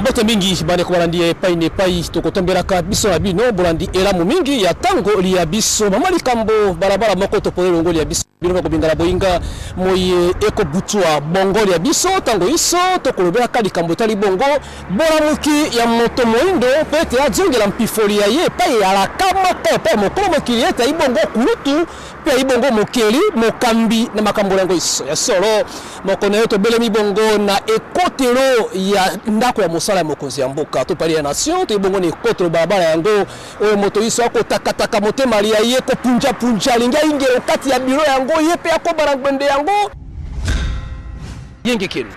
mbote mingi bandeko balandi ya epai na epai tokotombelaka biso na bino bolandi elamu mingi ya ntango liya biso mama likambo balabala moko toponi longo liya biso bino bakobingala boyinga moye ekobutwa bongo liya biso ntango iso tokolobelaka likambo etali bongo bolamuki ya moto moindo mpe ete azongela mpifoli ya ye epai alaka moko epai mokolo mokili ete ayi bongo kulutu Mpe bongo mokeli, mokambi na makambo na yango, ya solo, moko na yo, tobelemi bongo na ekotelo ya ndako ya mosala ya mokonzi ya mboka, to palais ya nation, toye bongo na ekotelo balabala yango oyo moto inso akotakataka motema lia ye, kopunjapunja, alingi aingia o kati ya biro yango, ye mpe akoba na ngbende yango. Yengekeni.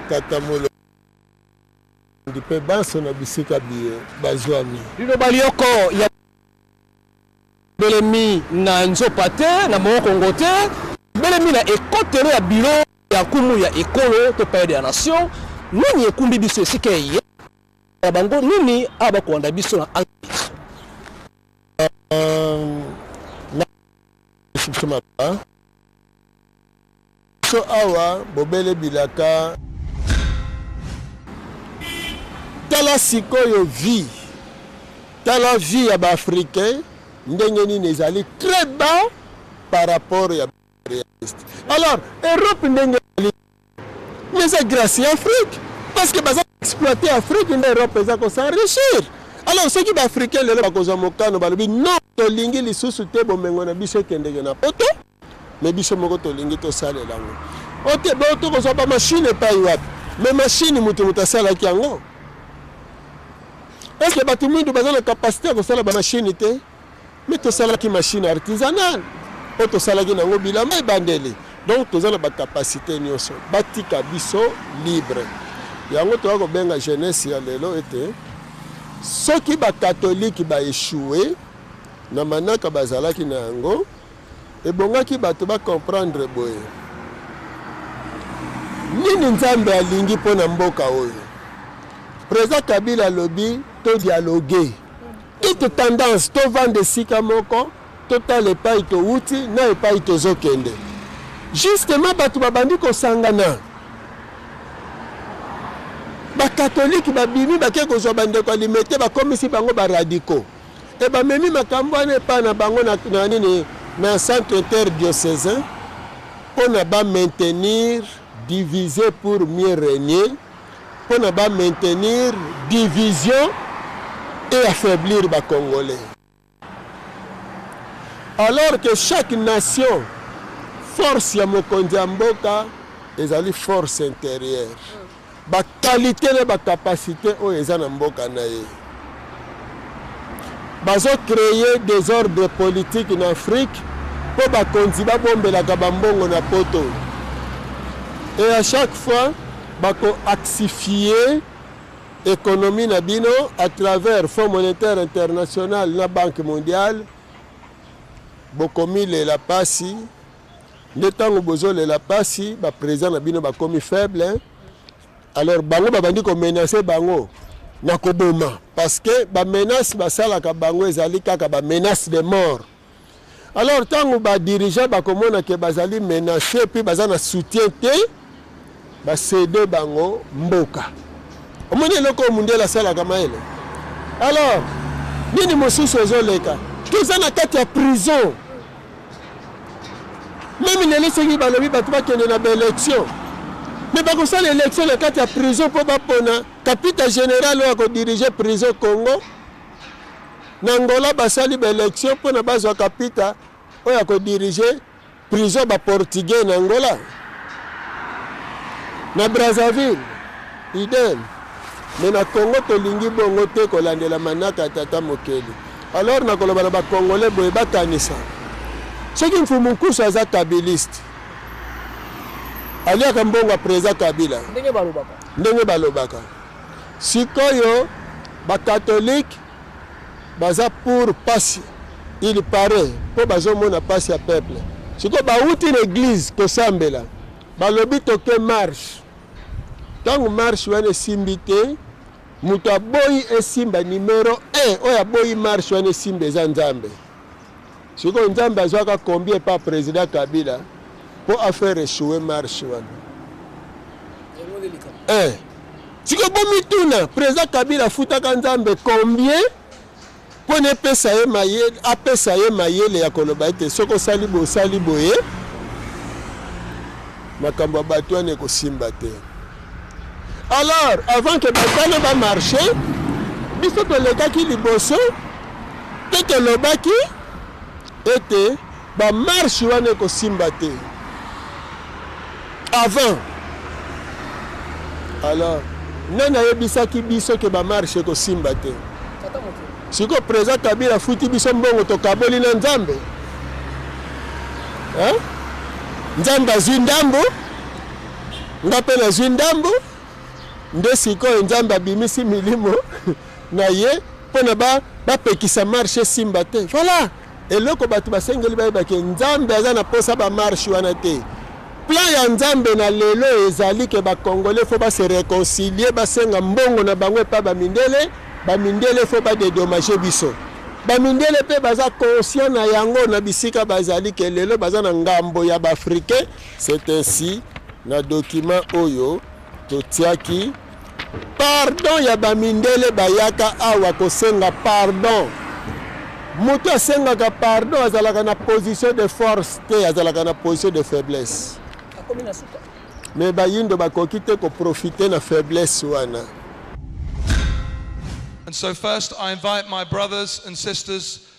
tata molo mpe banso na bisika biye bazwami liloba lyoko ya belemi na nzopa te na mokongo te belemi na ekotelo ya biro ya nkumu ya ekolo to palais de la nation nini ekumbi biso esika eye na bango nini awa bakolanda biso na angleterre euh, Biso awa bobele bilaka. Tala sikoyo vie tala vie ya ba africain ndenge nini ezali très bas par rapport ya realiste alors europe ndenge ezali mais eza grâce ya afrique parce que baza exploite afrique nde europe eza kosenrichir alors soki baafricain lelo bakozwa mokano balobi non tolingi lisusu te bomengo na biso ekendeke na poto mais biso moko tolingi tosalela yango ote bo tokozwa ba machine epai wapi mais machine moto moto asalaki yango eske bato mwindu baza na kapasite ya kosala ba machine te mais tosalaki machine artisanale oyo tosalaki na yango bilamba ebandeli donc toza na bakapasite nyonso batika biso libre yango toya kobenga jeunesse ya lelo ete soki bakatolike baeshue na manaka bazalaki na yango Ebongaki bato ba comprendre boye, nini Nzambe alingi mpo na mboka oyo? President Kabila alobi to dialogue toute tendance, tovanda esika moko, totala epai towuti na epai tozokende. Justement bato babandi kosangana, bakatolike babimi bake kozwa bandeko ya limete, bakomisi bango baradiko. Et ba memi makambu wana epa na bango na, na nini na centre interdiocesain pona ba maintenir divise pour mieux regner pona ba maintenir division et affaiblir ba congolais alors que chaque nation force ya mokonzi ya mboka ezali force intérieure ba qualite na ba capacite oyo eza na mboka na ye bazo cree desordre politique na afrique mpo bakonzi babombelaka bambongo na poto e à chaque fois bako actifie économie na bino à travers fonds monétaire international na banque mondiale bokomilela mpasi nde tango bozo lela pasi ba president na bino bakomi faible hein? alors bango babandi ko menacer bango na koboma parce que ba menace basalaka bango ezali kaka ba menace de mort alors ntango badirigeant bakomona ke bazali menace mpe baza na soutien te Ba cede bango mboka. Omoni eloko oyo mundial asalaka mayele. Alors nini mosusu ezoleka? Toza na kati ya prison. Meme lelo soki balobi bato bakende na baelection me bakosala election na kati ya prison mpo bapona kapita general oyo akodirige prison congo na angola basali baelection mpona bazwa kapita oyo akodirige Prison ya ba portugais na Angola na Brazzaville idem mais na Congo tolingi bongo te kolandela manaka ya tata mokeli alors nakoloba na ba congolais boye bakanisa soki mfumu nkusu aza kabiliste aliaka mbongo ya président kabila ndenge balobaka sikoyo bakatolike Baza pour pasi il parait po bazo mona pasi ya peuple sikoyo bawuti na eglise kosambela balobi toke marche tango marche wana esimbi te moto aboyi esimba numero 1 oyo aboyi marche wana esimba eza nzambe Sikoyo Nzambe azwaka combien epa president Kabila mpo afaire echoue marche wana eh. Sikoyo bomituna president Kabila afutaka Nzambe combien mpo na epesa ye mayele apesa ye mayele ya koloba ete soki osali boye osali boye makambo ya bato wana ekosimba te. Alors, avant que basala ba marche, biso tolekaki liboso mpe tolobaki ete bamarshe wana ekosimba te avant alors nani ayebisaki biso ke bamarshe ekosimba te sikoyo président kabila afuti biso mbongo tokaboli na nzambe nzambe azwi ndambo Nga pe nazwi ndambo nde sikoyo Nzambe abimisi milimo na ye mpo na bapekisa ba marche esimba te. Voilà eloko bato basengeli bayeba ke Nzambe aza na mposa ba marche wana te. Plan ya Nzambe na lelo ezali ke bakongole fo ba se reconcilier, basenga mbongo na bango epa ba mindele, ba mindele fo ba dedommage biso. Ba mindele pe baza conscient na yango na bisika bazali ke lelo baza na ngambo ya ba africain. C'est ainsi, na document oyo totiaki pardon ya bamindele bayaka awa kosenga pardon moto asengaka pardon azalaka na position de force te azalaka na position de faiblesse me bayindo bakoki te koprofite na faiblesse wana And so first I invite my brothers and sisters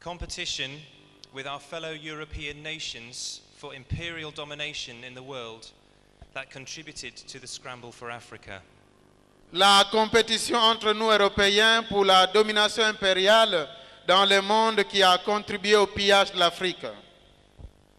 Competition with our fellow European nations for imperial domination in the world that contributed to the scramble for Africa. La competition entre nous Européens pour la domination impériale dans le monde qui a contribué au pillage de l'Afrique.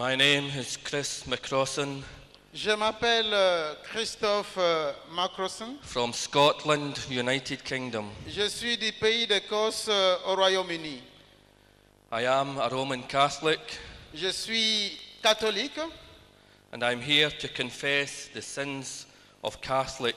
My name is Chris McCrossan. Je m'appelle euh, Christophe euh, Macrosson. From Scotland, United Kingdom. Je suis du pays d'Écosse euh, au Royaume-Uni. I am a Roman Catholic. Je suis catholique. And I'm here to confess the sins of Catholic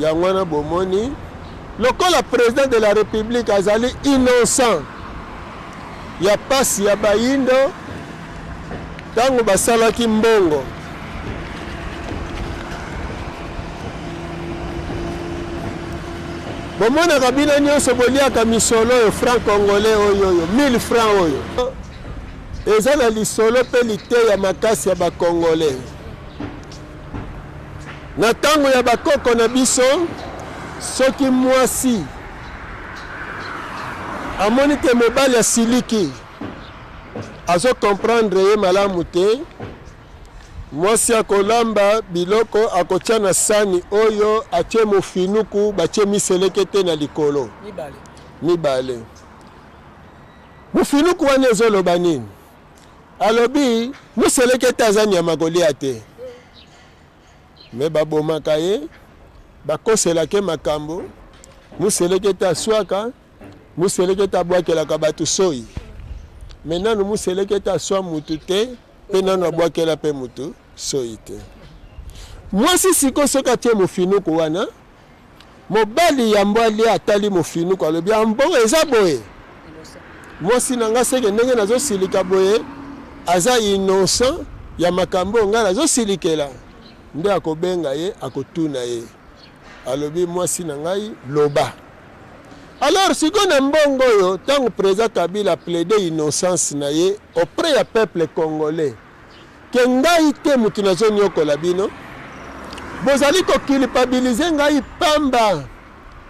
yango wana bomoni lokola président de la république azali innocent ya mpasi ya bayindo ntango basalaki mbongo bomonaka bino nyonso boliaka misolo oyo franc congolais oyo oyo 1000 franc oyo Eza na lisolo pe liteya makasi ya ba congolais. Na tango ya ba koko na biso, soki mwasi amoni ke mobali asiliki, azo comprendre ye malamu te, mwasi akolamba biloko akotia na sani oyo atie mofinuku, batie miselekete na likolo. Mibale. Mibale. Mufinuku wana ezo loba nini? Alobi muselekete aza nyama kolia te. Me babomaka ye, bakoselaka ye makambo, muselekete aswaka, muselekete abwakelaka bato soyi. Me nanu muselekete aswa mutu te mpe nanu abwakela mpe mutu soyi te. Mwasi siko soki atie mufinuku wana, Mobali ya Mbwalia atali Mofinuku alobi ambongo ah, eza boye mwasi na ngai seke ndenge nazosilika boye aza innocent ya makambo oyo ngai nazosilikela nde akobenga ye akotuna ye alobi mwasi na ngai loba alors sikoyo na mbongo oyo ntango président kabila plaide innocence na ye auprès ya peuple congolais que ngai te mutu nazo niokola bino bozali ko culpabiliser ngai pamba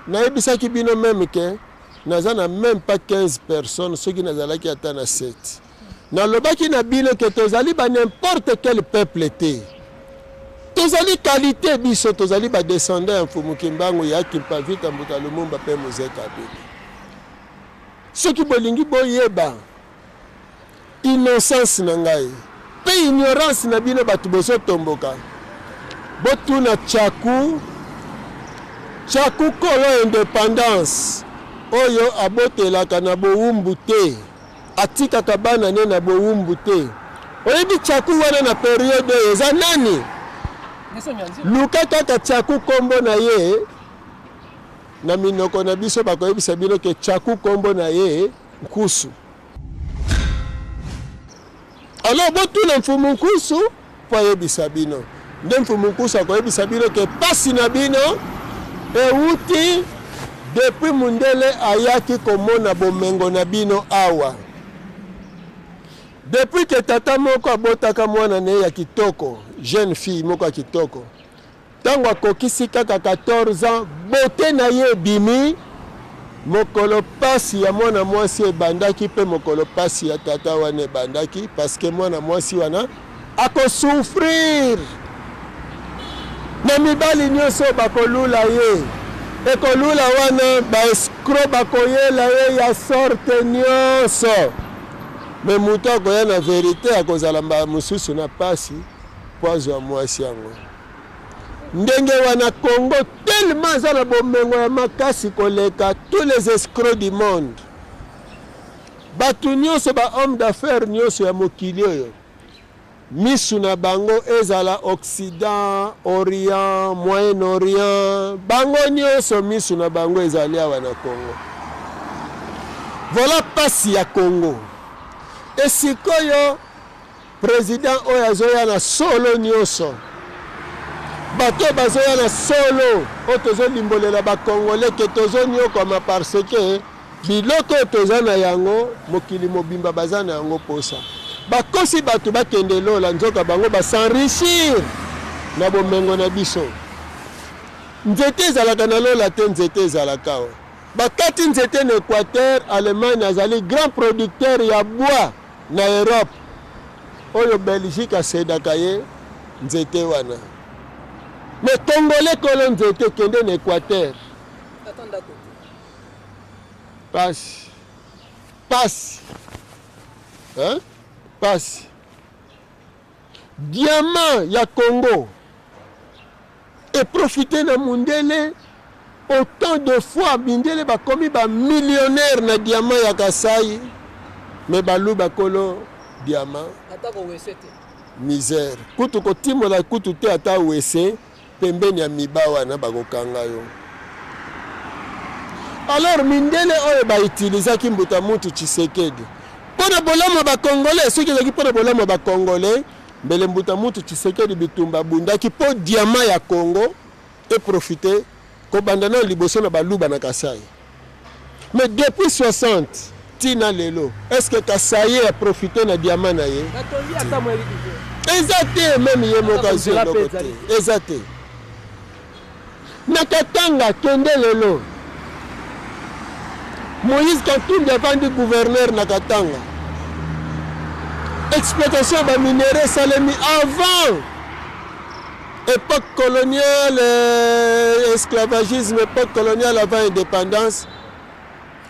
nayebisaki bino meme que naza na meme pas 15 personnes soki nazalaki ata na 7 nalobaki na bino que tozali ba n'importe quel peuple te tozali kalite biso tozali badescendant ya mfumu kimbangu ya kimpavita mbuta lumumba mpe mozekabili soki bolingi boyeba Innocence na ngai pe ignorance na bino batu bozo tomboka botuna tshaku tshaku kolo independance oyo abotelaka na bowumbu te atikaka bana ne na bowumbu te oyebi tshaku wana na periode oyo eza nani luka kaka tshaku kombo na ye na minoko na biso bakoyebisa bino ke tshaku kombo na ye Nkusu. Alors botuna mfumu Nkusu mpo ayebisa bino. Nde mfumu Nkusu akoyebisa bino ke pasi na bino ewuti depuis mundele ayaki komona bomengo na bino awa. Depuis ke tata moko abotaka mwana na ye ya kitoko, jeune fille moko ya kitoko. Tango akokisi kaka 14 ans, beaute na ye ebimi, mokolo pasi ya mwana mwasi ebandaki mpe mokolo pasi ya tata wana ebandaki parce que mwana mwasi wana ako souffrir na mibali nionso oyo bakolula ye ekolula wana ba escroc bakoyela ye ya sorte nionso mais moto akoya na verite akozala mbala mosusu na pasi. Po azwa mwasi yango ndenge wana Congo tellement aza na bomengo ya makasi koleka tous les escrocs du monde bato nyonso ba homme d'affaires nyonso ya mokili oyo misu na bango ezala occident orient moyen orient bango nyonso misu na bango ezali awa na congo vola mpasi ya congo esikoyo President oyo azoya na solo nioso bato oyo bazoya na solo oyo tozolimbolela bakongole ke tozoniokwama parce ke biloko oyo toza na yango mokili mobimba baza na yango mposa bakosi bato bakende lola nzoka bango basenrichir na bomengo na biso nzete ezalaka na lola te nzete ezalaka o bakati nzete na équateur allemagne azali grand producteur ya bois Na Europe oyo Belgique asedaka ye nzete wana. Mais congolais kolo nzete kende na Equateur. Ata ndako te. Pasi. Pasi. Hein? Pasi. Diamant ya Congo e profiter na mundele autant de fois mindele bakomi ba millionnaire na diamant ya Kasaï mais baluba kolo diamant misère kutu kotimola kutu te ata wese Pembeni ya miba wana bakokanga yo. Alors mindele oyo ba utilisaki mbuta muntu Tshisekedi mpo na bolamu ya ba congolais, soki ezalaki mpo na bolamu ya ba congolais mbele mbuta muntu Tshisekedi bitumba abundaki mpo diamant ya Congo e profiter kobanda nanu liboso na baluba na Kasaï. Mais depuis 60 ti na lelo est ce que Kasaye a profiter na diamant na ye? Eza te meme ye moko azwi eloko te. Eza te. Na Katanga kende lelo. Moïse Katumbi avandi gouverneur na Katanga. Exploitation ya ba minerais esalemi avant Epoque coloniale, esclavagisme, epoque coloniale avant indépendance.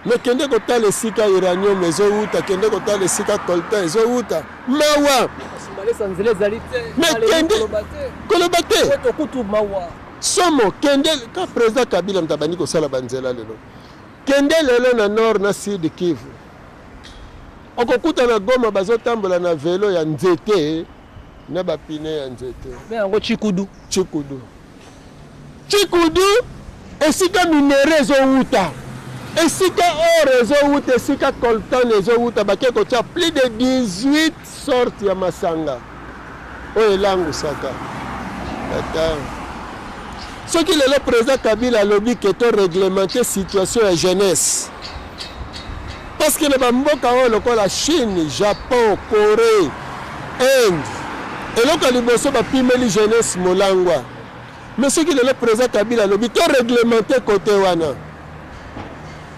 Mais kende kotala esika uranium ezowuta, kende kotala esika coltan ezowuta. Mawa. Mais kende koloba te. Somo kende ka président Kabila mtabani kosala banzela lelo. Kende lelo na nord na sud Kivu. Okokuta na Goma bazotambola na velo ya nzete. na ba pine ya nzete mais yango chikudu chikudu chikudu esika minere ezowuta esika or ezowuta esika coltan ezowuta bake kotya plus de 18 sorte ya masanga oyo elangusaka ata soki lelo président kabila alobi ke to reglemente situation ya jeunesse Parce que na ba mboka oyo lokola Chine, Japon, Coree, Inde, eloko ya liboso bapimeli jeunesse molangwa. Mais soki lelo président Kabila alobi to réglementer côté wana,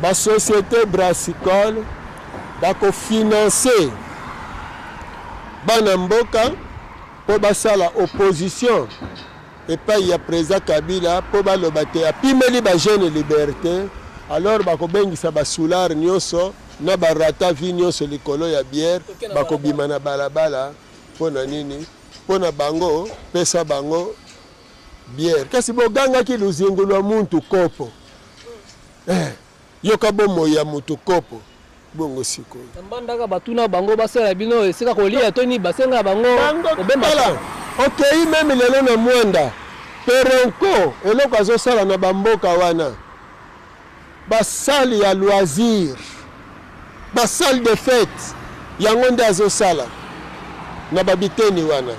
ba société brassicole bakofinancer bana mboka mpo basala opposition epayi ya president Kabila po baloba te apimeli ba jeunes liberte alors bakobengisa ba soulard nionso na ba rata vie nionso likolo ya bière bakobima na balabala po na nini po na bango pesa bango bière kasi bogangaki luzingu lwa muntu kopo eh. Yoka bomoi ya moto kopo. Bongo sikoyo. Na mbandaka ba tuna bango ba sala bino esika ko lia to nini ba senga bango ko bemba. Tala okeyi meme lelo na muanda peronko eloko azo sala na ba mboka wana ba salle ya loisir. Ba salle de fete yango nde azo sala na ba biteni wana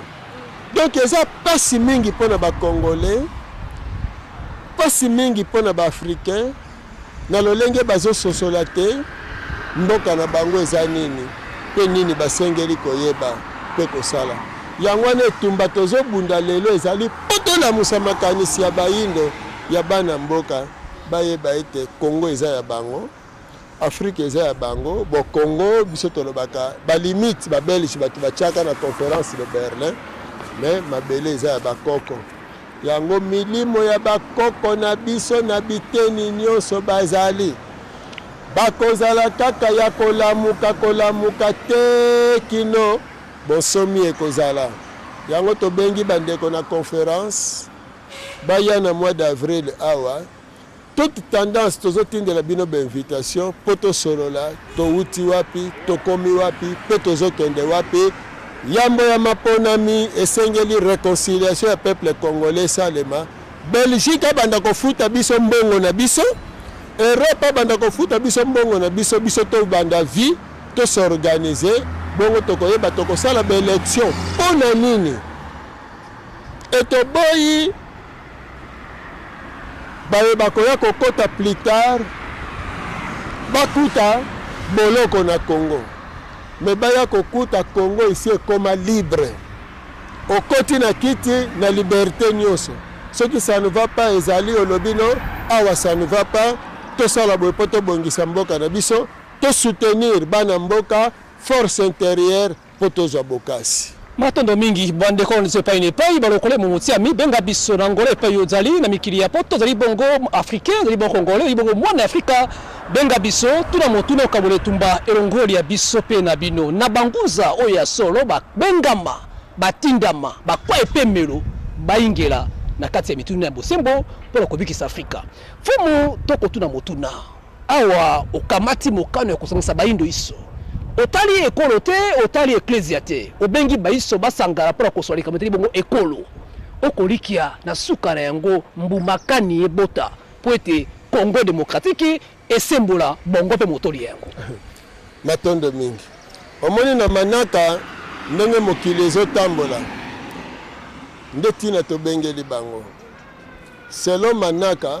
donc eza pasi mingi pona ba congolais pasi mingi pona ba africain na lolenge bazo sosola te mboka na bango eza nini pe nini basengeli koyeba pe kosala yango wana etumba tozo bunda lelo ezali poto lamusa makanisi ya bayindo ya bana mboka bayeba ete congo eza ya bango Afrique eza ya bango bo Congo biso tolobaka ba limite ba belge bato batiaka na conference de Berlin mais mabele eza ya bakoko yango milimo ya bakoko na biso na biteni nyonso bazali bakozala kaka ya kolamuka kolamuka te kino bonsomi ekozala yango tobengi bandeko na conference baya na mois d'avril awa Toute tendance tozo tindela bino ba invitation po to solola towuti wapi tokomi wapi pe tozo kende wapi yambo ya maponami esengeli reconciliation ya peuple congolais esalema Belgique abanda kofuta biso mbongo na biso Europe abanda kofuta biso mbongo na biso biso to banda vie to s'organiser bongo tokoyeba tokosala ba election pona nini etoboyi baye bakoya kokota plus tard bakuta boloko na Congo me baya kokuta Congo isi ekoma libre okoti na kiti na liberte nyonso soki ça ne va pas ezali olobi no awa ça ne va pas tosala boye mpo tobongisa mboka na biso tosoutenir bana mboka force intérieure mpo tozwa bokasi. Matondo mingi bandeko na biso epai na epai balokole momotiami benga biso na Angola epai ozali na mikili ya poto ozali bongo africain ozali bongo congolais ozali bongo mwana afrika benga biso tuna motuna okabola etumba elongoli ya biso mpe na bino na bangunza oyo ya solo babengama batindama bakwa epemelo bayingela na kati ya mituna ya bosembo mpo na kobikisa afrika fumu to kotuna motuna Awa okamati mokano ya kosangisa baindo iso, otali ekolo te, otali eklezia te, obengi baiso basangana mpo na koswa likambo etali bongo ekolo. Okolikia na suka na yango mbuma kani ebota mpo ete Congo demokratiki esembola bongo mpe motoli ya yango. Matondo mingi. Omoni na manaka ndenge mokili ezotambola nde ntina tobengeli bango selon manaka.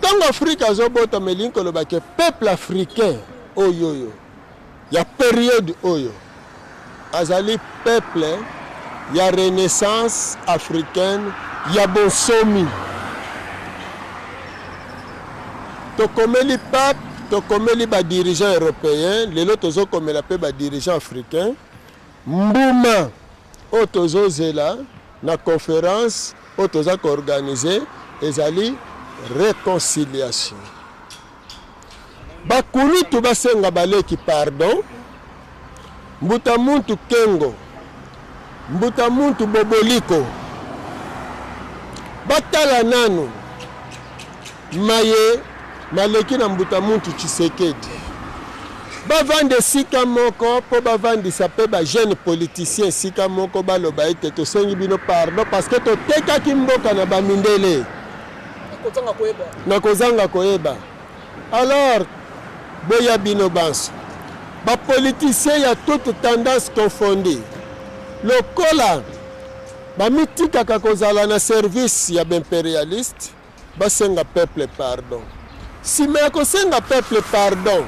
Tango Afrique azo botama elingi koloba ke peuple africain oyoyo ya periode oyo azali peuple ya renaissance africaine ya bonsomi. Tokomeli pape, tokomeli ba dirigeants européens, lelo tozokomela pe ba dirigeants africains. Mbuma oyo tozo zela na conference oyo toza ko organise ezali reconciliation. Ba kulutu basenga baleki pardon. Mbuta muntu Kengo, mbuta muntu Boboliko batala nanu Maye maleki na mbuta muntu Tshisekedi. Bavanda esika moko mpo bavandisa mpe ba jeune politicien esika moko baloba ete tosengi bino pardon parce que totekaki mboka na bamindele na kozanga koyeba alors boya bino banso bapoliticien ya toute tendance confondi lokola bamitikaka kozala na service ya baimperialiste Basenga peuple pardon sima ya kosenga peuple pardon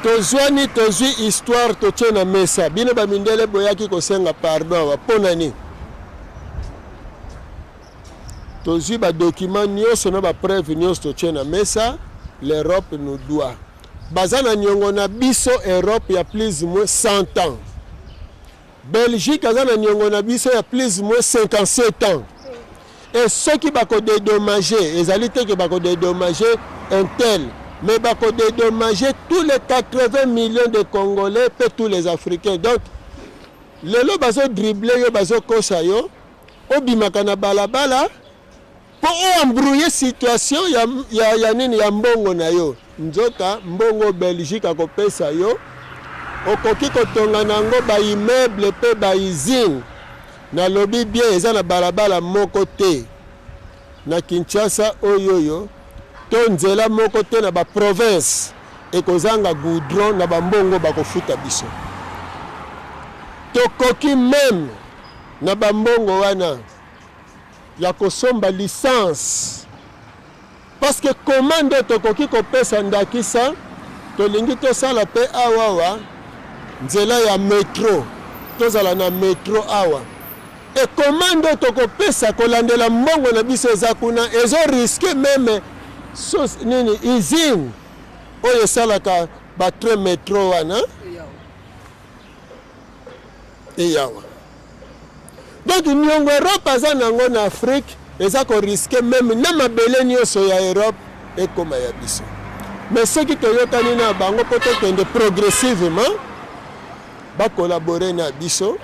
tozuani tozui histoire totie na mesa bino ba mindele boyaki kosenga pardon awa mpo na nini tozui ba document nyonso na ba preuve nyonso totie na mesa l'europe nous doit baza na niongo na biso europe ya plus moins 100 ans belgique aza na niongo na biso ya plus moins 57 ans Et soki ba ko dedommager, ezali te que ba ko dedommager un tel, mais ba ko dedommager tous les 80 millions de congolais pe tous les africains. Donc lelo bazo dribbler yo, bazo kosa yo, obimaka na balabala po o embrouiller situation ya, ya, ya nini ya mbongo na yo. Nzoka mbongo Belgique akopesa yo, okoki kotonga na yango ba immeubles mpe ba usines. Nalobi bien, eza na balabala moko te na Kinshasa oyoyo to nzela moko te na ba provinces ekozanga goudron na bambongo bakofuta biso. Tokoki meme na bambongo wana ya kosomba licence. Parce que comment nde tokoki kopesa ndakisa, tolingi tosala pe awa awa nzela ya metro, tozala na metro awa et comment nde tokopesa kolandela mbongo na biso eza kuna ezo risque meme sos, nini usine oyo esalaka batrain metro wana eyawa Donc niongo Europe aza nango na Afrique eza ko risquer meme na mabele nioso ya Europe ekoma ya biso. Mais soki toyokani na bango mpo tokende progressivement ba collaborer na biso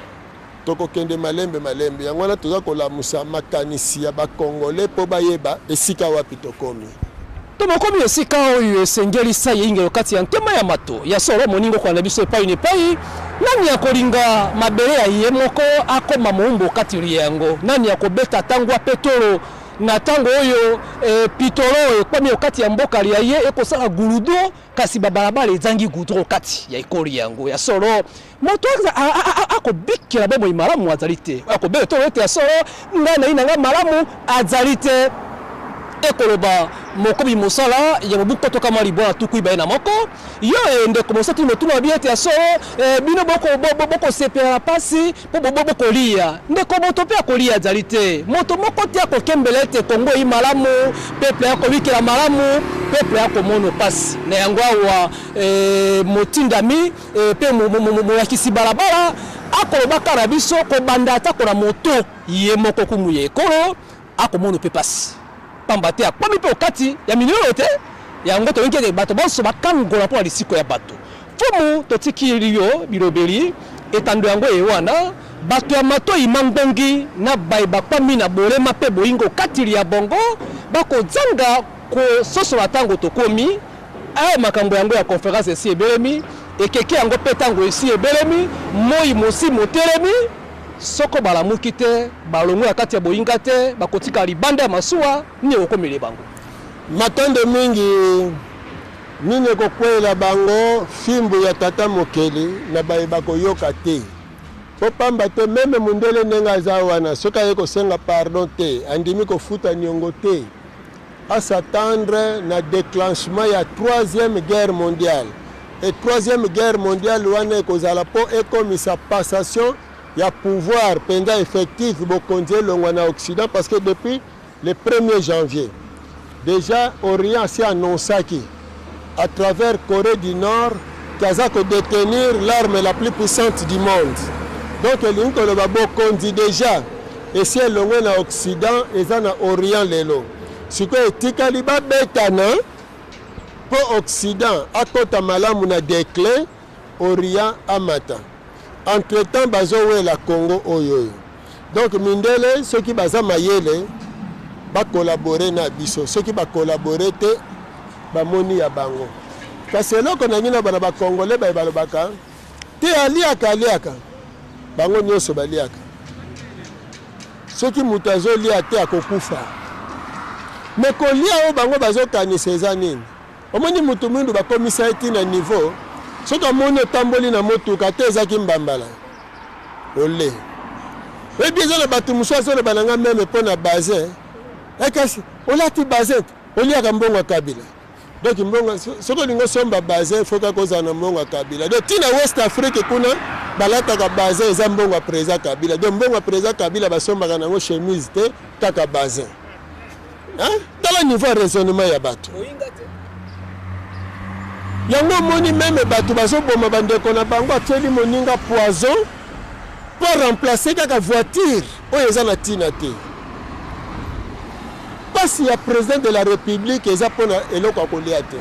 tokokende malembe malembe. Yango wana toza kolamusa makanisi ya ba Congolais mpo bayeba esika wapi tokomi. Tomokomi esika oyo esengeli sai eingelo kati ya ntema ya mato. Ya solo, moninga okolanda biso epai na epai. Nani akolinga mabele ya ye moko akoma moumbu kati lya yango? Nani akobeta tango ya petolo na tango oyo e, pitolo ekomi okati ya mboka lya ye ekosala guludo, kasi babalabala ezangi gudro kati ya ekolo lya yango? Ya solo, Moto akobikela bomoi malamu azali te, oyo akobela to ete ya solo ngai nayi na ngai malamu azali te, ekoloba mokomi mosala ya mobu nkoto kama libwa na tuku ibale na moko. Yo e ndeko mosakoli motuna mabi ete ya solo e, bino bokosepela na mpasi mpo bobo bokoliya. Ndeko moto mpe akoliya azali te, moto moko te akokembela ete Kongo eyi malamu, peple akobikela malamu, peple akomono mpasi. Na yango awa e, motindami e, mpe molakisi balabala akolobaka na biso kobanda atako na moto ye moko kumu ya ekolo akomono mpe mpasi mpamba te akomi mpe okati ya minioyo te yango tolingi ete bato banso bakangola mpo na lisiko ya bato mfumu totikili yo bilobeli etando yango eye wana bato ya matoi mangbongi na baye bakwami na bolema mpe boyingo kati lya bongo bakozanga Kososola ntango tokomi, Ee, makambo yango ya conference esi ebelemi, ekeke yango mpe ntango esi ebelemi, moi mosi motelemi. Soko balamuki te, balongwe na kati ya boinga te, bakotikala libanda ya masuwa. Nini ekokomele bango? Matondo mingi. Nini ekokweyela bango? Fimbu ya Tata Mokeli na baye bakoyoka te. Mpo pamba te, meme mundele ndenge aza wana, soki aye kosenga pardon te, andimi kofuta niongo te. a s'attendre na declenchement ya troisième guerre mondiale et troisième guerre mondiale wana ekozala mpo ekomisa passation ya pouvoir mpenza effectif bokonzi elongwa na occident parce que depuis le 1er janvier déjà orient asi annonsaki à travers Coree du Nord qui aza ko detenir l'arme la plus puissante du monde donc elingi koloba bokonzi deja esi elongwe na occident eza na orient lelo sikoyo etikali babetana mpo occident akota malamu na declin orient amata entretemps bazowela congo oyo oyo Donc mindele soki baza mayele ba collaborer na biso, soki ba collaborer te bamoni ya bango. Kasi eloko nangi na bana ba congolais baye balobaka te aliaka aliaka, bango nyonso baliaka. Soki moto azolia te akokufa, me kolia oyo bango bazokanisa eza nini? Omoni mutu mwindu bakomisa ye ti na niveau soki amoni otamboli na motuka te ezaki mbambala ole oyebi eza na bato mosusu azoloba na ngai meme mpo na basin ekasi olati basin te oliaka mbongo ya kabila donc mbongo soki olingi osomba basin il faut kaka ozala na mbongo ya kabila donc ntina west afrique kuna balataka basin eza mbongo ya président kabila donc mbongo ya président kabila basombaka na yango chemise te kaka basin Hein? Tala niveau ya raisonnement ya bato. Yango omoni meme bato bazoboma bandeko na bango atyeli moninga poison mpo remplace kaka voiture oyo eza na ntina te. Mpasi ya president de la république eza mpo na eloko ya kolia te.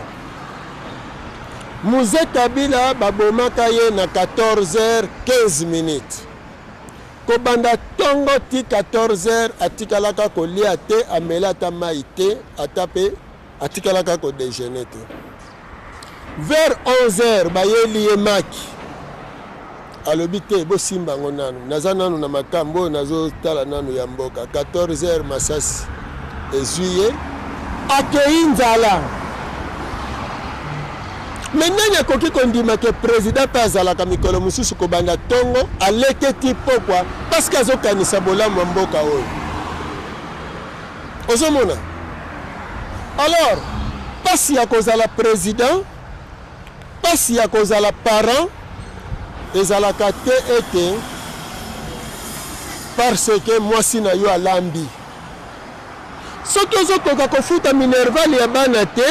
Muze Kabila babomaka ye na 14h15 minutes. Kobanda tongo ti 14 heures atikalaka kolia te, amela ata mayi te, ata pe atikalaka ko dejeuner te. Vers 11 heures bayeli ye maki, alobi te bosimba yango nanu, naza nanu na makambu oyo nazo tala nanu ya mboka. 14 heures masasi ezui ye, akeyi nzala. Mais nani akoki kondima que president pe azalaka mikolo mususu kobanda tongo aleke ti pokwa parce que azo kanisa bolamu ya mboka oyo ozo mona alors pasi ya kozala president pasi ya kozala parent ezalaka te ete parce que mwasi na yo alambi Soki ozo koka ko futa minerval ya bana te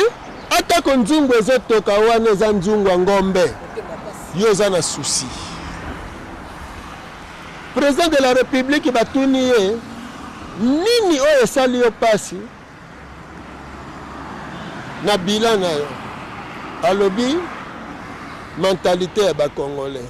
ata ko nzungu ezo toka wana eza nzungu ya ngombe yo oza na souci. President de la Republique batuni ye nini oyo esali yo pasi na bilan na yo alobi mentalite ya ba congolais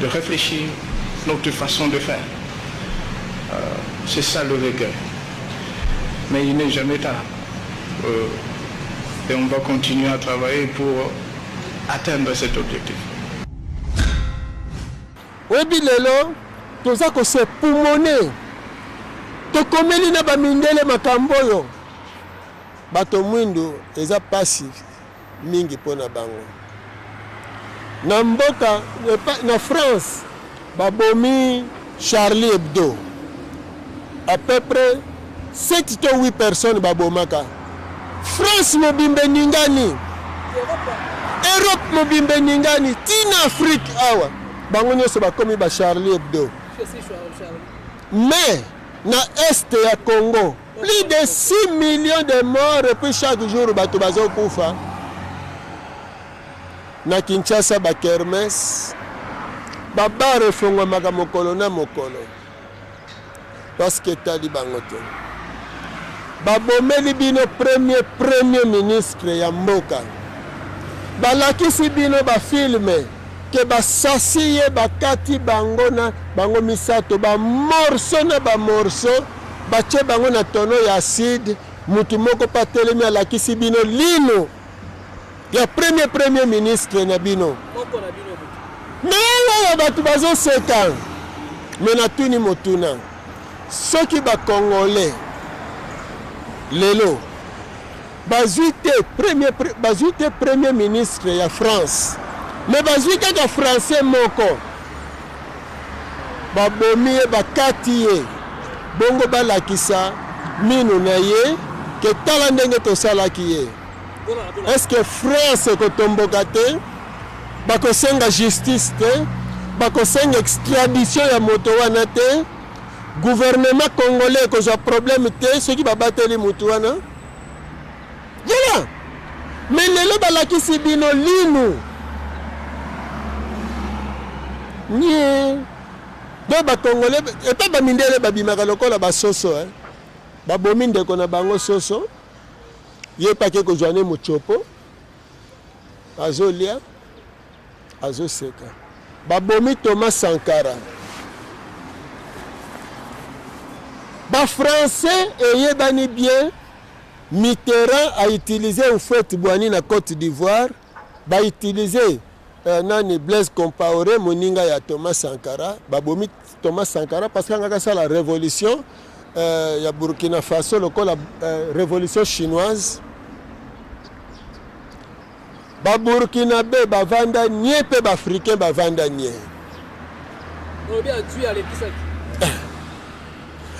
de reflechir notre façon de faire c'est ça le regret mais il n'est jamais tard et on va continuer à travailler pour atteindre cet objectif. Oyebi lelo toza ko se pumone tokomeli na bamindele makambo oyo bato mwindu eza pasi mingi mpo na bango. Na mboka na France babomi Charlie Hebdo à peu près 7 to 8 personnes babomaka. France mobimba eningani, Europe mobimba eningani, ti na Afrique awa bango nyonso bakomi ba Charlie Hebdo. Mais na est ya Congo Plus de 6 millions de morts et puis chaque jour bato bazokufa na Kinshasa ba kermes ba bar efongwamaka mokolo na mokolo parce que etali bango te babomeli bino premier premier ministre ya mboka balakisi bino bafilme Ke ba sasi ye ba kati bango na bango misato ba morceaux na ba morceaux ba tie bango na tonneau ya acide mutu moko pe atelemi alakisi bino linu ya premier premier ministre na bino mais oyo batu bazo seka mais natuni motuna soki ba congolais lelo Bazui te premier bazui te premier ministre ya France mais bazui kaka français moko babomi ye bakati ye bongo balakisa minu na ye ke tala ndenge tosalaki ye est-ce que France ekotomboka te bakosenga justice te bakosenga extradition ya moto wana te gouvernement congolais ekozwa problème te soki babateli moto wana Voilà. Mais lelo balakisi bino linu. Nie. Do ba congolais et pas ba mindele ba bimaka lokola ba soso hein. Ba bomi ndeko na bango soso. Ye pake ko joane mochopo. azolia azoseka babomi Thomas Sankara ba français eyebani bien Mitterrand a utilisé Houphouët Boigny na Côte d'Ivoire ba utiliser euh, nani Blaise Compaoré moninga ya Thomas Sankara babomi Thomas Sankara parce que angaka sala revolution euh, ya Burkina Faso lokola euh, revolution chinoise ba burkinabe bavanda nie mpe baafricain bavanda nie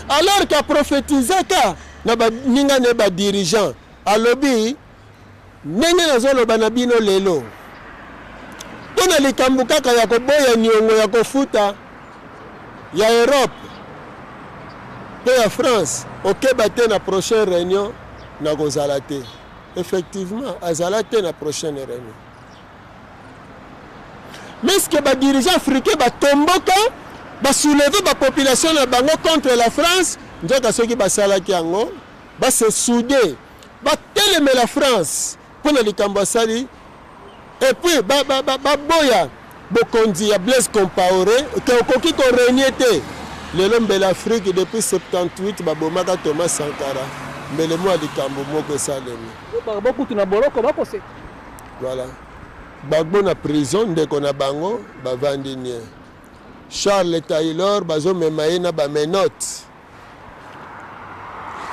alors qu'aprofetizaka na baninga ne badirigeant alobi Ndenge nazoloba na bino lelo, mpo na likambo kaka ya koboya niongo ya kofuta ya Europe mpe ya France, okeba te na prochaine reunion nakozala te. Effectivement, azala te na prochaine reunion. Mais ce que ba dirigeants africains batomboka basouleve bapopulation na bango contre la france nzoka soki basalaki yango base soude Batelemela France mpo na likambo asali et puis ba ba ba baboya bokonzi ya Blaise Compaore que okoki ko renier te lelo mbele Afrique depuis 78 babomaka Thomas Sankara mbele mua likambo moko esalemi Gbagbo kutu na boloko bakoseka. Voilà. Gbagbo na prison ndeko na bango bavandi nie. Charles Taylor bazomema ye na ba menottes.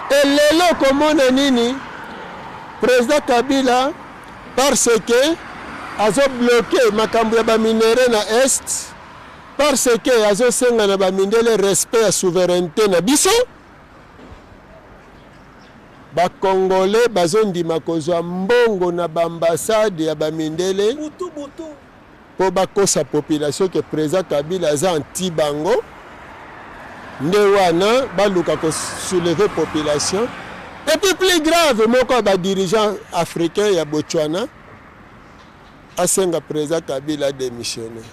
E lelo okomona nini? President Kabila parce que azo bloquer makambo ya ba minerais na est parce que azosenga na bamindele respect ya souveraineté na biso bakongole bazondima kozwa mbongo na baambasade ya bamindele po bakosa population que president Kabila aza anti bango nde wana baluka ko soulever population et puis plus grave moko ya ba dirigeants africains ya Botswana asenga president Kabila démissionner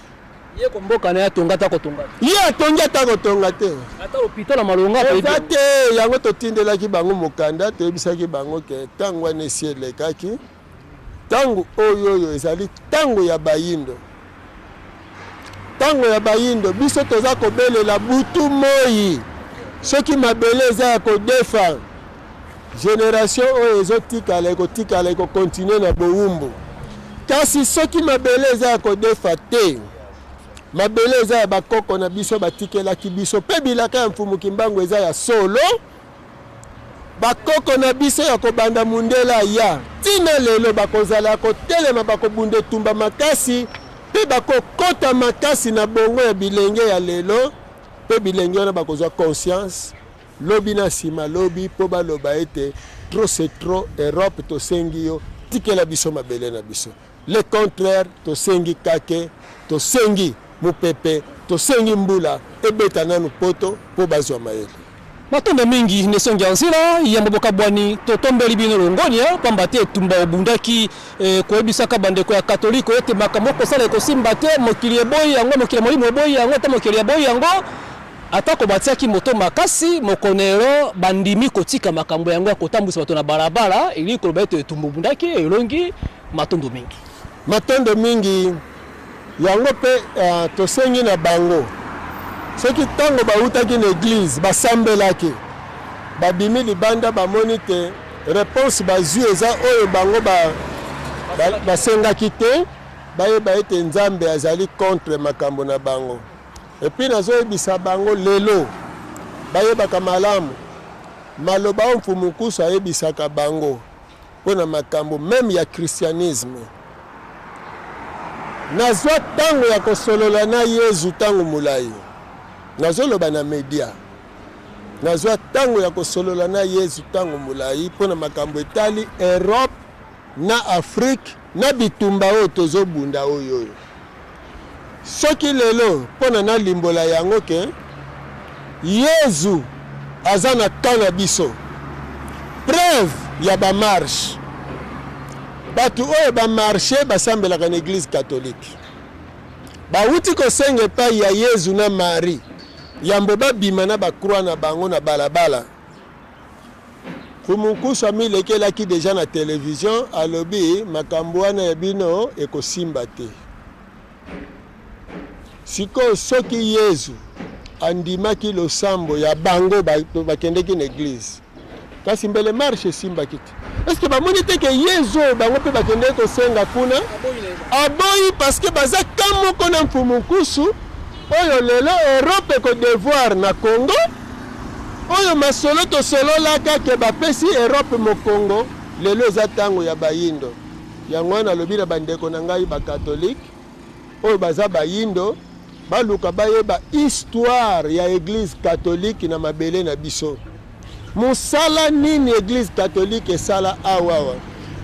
ye ko mboka na ya tonga ta kotonga ye atongi ata kotonga te ata hôpital na malonga eza te yango totindelaki bango mokanda toyebisaki bango ke ntango wana esi elekaki Tango oyoyo ezali tango ya bayindo, tango ya bayindo biso toza kobelela butu moyi soki mabele eza ya kodefa generation oyo ezotikala ekotikala ekokontinue na bowumbu kasi soki mabele eza ya kodefa te mabele eza ya bakoko na biso batikelaki biso mpe bilaka ya mfumu kimbangu eza ya solo Bakoko na biso ya kobanda mundele aya tii na lelo bakozala ya kotelema, bakobunda etumba makasi mpe bakokota makasi na bongo ya bilenge ya lelo, mpe bilenge wana bakozwa conscience lobi na nsima lobi mpo baloba ete trop c'est trop, Europe tosengi yo tikela biso mabele na biso. Le contraire tosengi kake, tosengi mupepe, tosengi mbula ebeta nanu poto po bazwa mayele. Matondo mingi Nesongi ya Nzela, yambo bokabwani totombeli bino longonya pamba te etumba obundaki e, koyebisaka bandeko ya katoliko ete makambo okosala ekosimba te, mokili eboyi yango, mokili ya molimo eboyi yango, ata mokeli aboyi yango. Atako batiaki moto makasi, Mokonero bandimi kotika makambo yango ya kotambwisa bato na balabala, elingi koloba ete etumba obundaki elongi. Matondo mingi. Matondo mingi. Yango mpe uh, tosengi na bango soki ntango bawutaki na eglize basambelaki babimi libanda bamoni te reponse bazwi eza oyo bango basengaki te bayeba ete nzambe azali contre makambo na bango Et puis nazoyebisa bango lelo bayebaka malamu maloba oyo Mfumu Nkusu ayebisaka bango mpo na makambo meme ya christianisme. Nazwa ntango ya kosolola na Yezu ntango molai, nazoloba na media. Nazwa ntango ya kosolola na Yezu ntango molai mpo na makambo etali Europe na Afrique na bitumba oyo tozo bunda oyoyo soki lelo pona na limbola yango ke Yezu aza na camp na biso preuve ya ba marche batu oyo ba marche basambelaka na eglise catholique bawuti kosenga epai ya Yezu na Marie yambo babima na ba croix na bango na balabala Kumunkusu amilekelaki dejà na television alobi makambu wana ya bino ekosimba te. Sikoyo soki Yezu andimaki losambo ya bango bakendeki na eglise kasi mbele marche esimbaki te. Est-ce que bamoni te ke yezu oyo bango mpe bakendeki kosenga kuna aboyi parce que baza ka moko na mfumu nkusu oyo lelo europe ekodevoir na congo oyo masolo tosololaka ke bapesi europe mokongo lelo eza ntango ya bayindo yango wana alobi na bandeko na ngai bakatolike oyo baza bayindo baluka bayeba histoire ya eglise catholique na mabele na biso mosala nini eglise catholique esala awa awa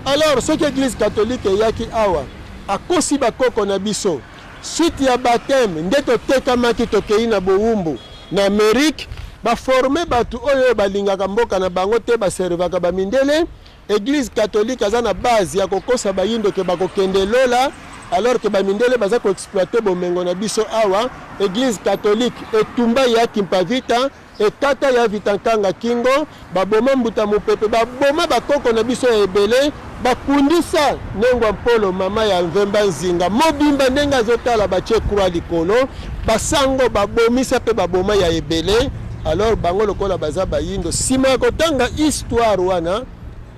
alors soki eglise catholique eyaki awa akosi bakoko na biso suite ya bateme nde totekamaki tokei na bowumbu na amerike baforme bato oyo balingaka mboka na bango te baservaka bamindele Eglise catholique aza na base ya kokosa bayindo ke bakokende lola alors que bamindele baza koexploite bomengo na biso awa eglise catholique etumba ya kimpavita ekata ya vitankanga kingo baboma mbuta mopepe baboma bakoko na biso ya ebele bakundisa nengwa mpolo mama ya nvemba nzinga mobimba ndenge azotala batie croix likolo basango babomisa mpe baboma ya ebele Alors bango lokola baza bayindo, sima ya kotanga histoire wana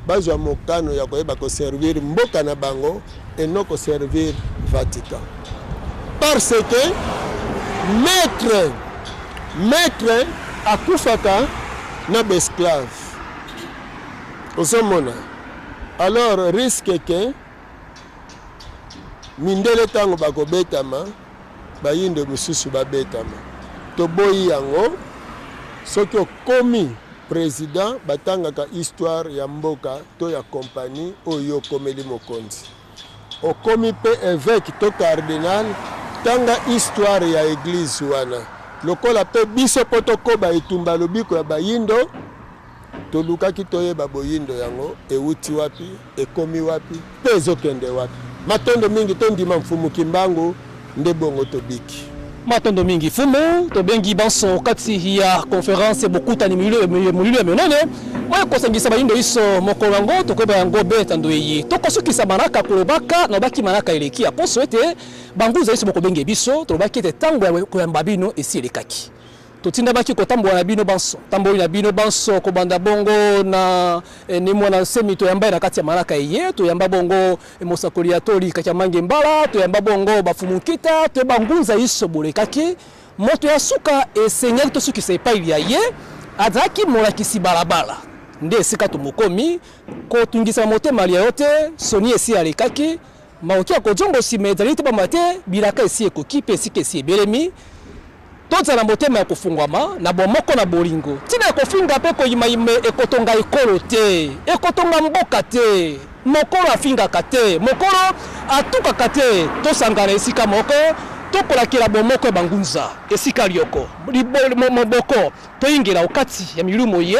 bazwa mokano ya koyeba koservir mboka na bango et non koservir Vatican. Parce que maître maître akufaka na baesclave ozomona alors risque ke mindele ntango bakobetama Bayindo misusu babetama toboyi yango soki okomi president batangaka histoire ya mboka to ya compagnie oyo okomeli mokonzi okomi mpe eveke to cardinal tanga histoire ya eglise wana lokola mpe biso mpo tokoba etumba lobiko ya bayindo Tolukaki toyeba boyindo yango ewuti wapi, ekomi wapi mpe ezokende wapi. Matondo mingi, tondima Mfumu Kimbangu nde bongo tobiki. Matondo mingi Fumu, tobengi banso kati ya conference bokutani molilo ya minene oyo ekosangisa bayindo iso mokolo yango tokoyeba yango beta ndoyi tokosukisa manaka kolobaka na obaki manaka eleki ya poso ete banguza iso bokobenge biso tolobaki ete ntango ya koyamba bino esi elekaki Totindamaki kotambola na bino banso, tamboli na bino banso, kobanda bongo na ene mwana nsemi toyamba ye na kati ya malaka eye, toyamba bongo mosakoli ya toli Kakyamange Mbala, toyamba bongo bafumu nkita, toyeba ngunza iso bolekaki. Moto ya suka esengeli tosukisa epai lya ye azalaki molakisi balabala. Nde esika tomokomi, kotungisama motema lya yo te, soni esi alekaki, Maoki ya kojongo sima ezali te pamba te bilaka esi ekoki mpe esika esi ebelemi. Tozala na motema ya kofungwama na bomoko na bolingo. Ntina ya kofinga mpe koyimayima ekotonga ekolo te, ekotonga mboka te. Mokolo afingaka te, mokolo atukaka te. Tosangana esika moko, tokolakela bomoko ya bangunza esika lyoko moboko, toyingela okati ya milumo ye.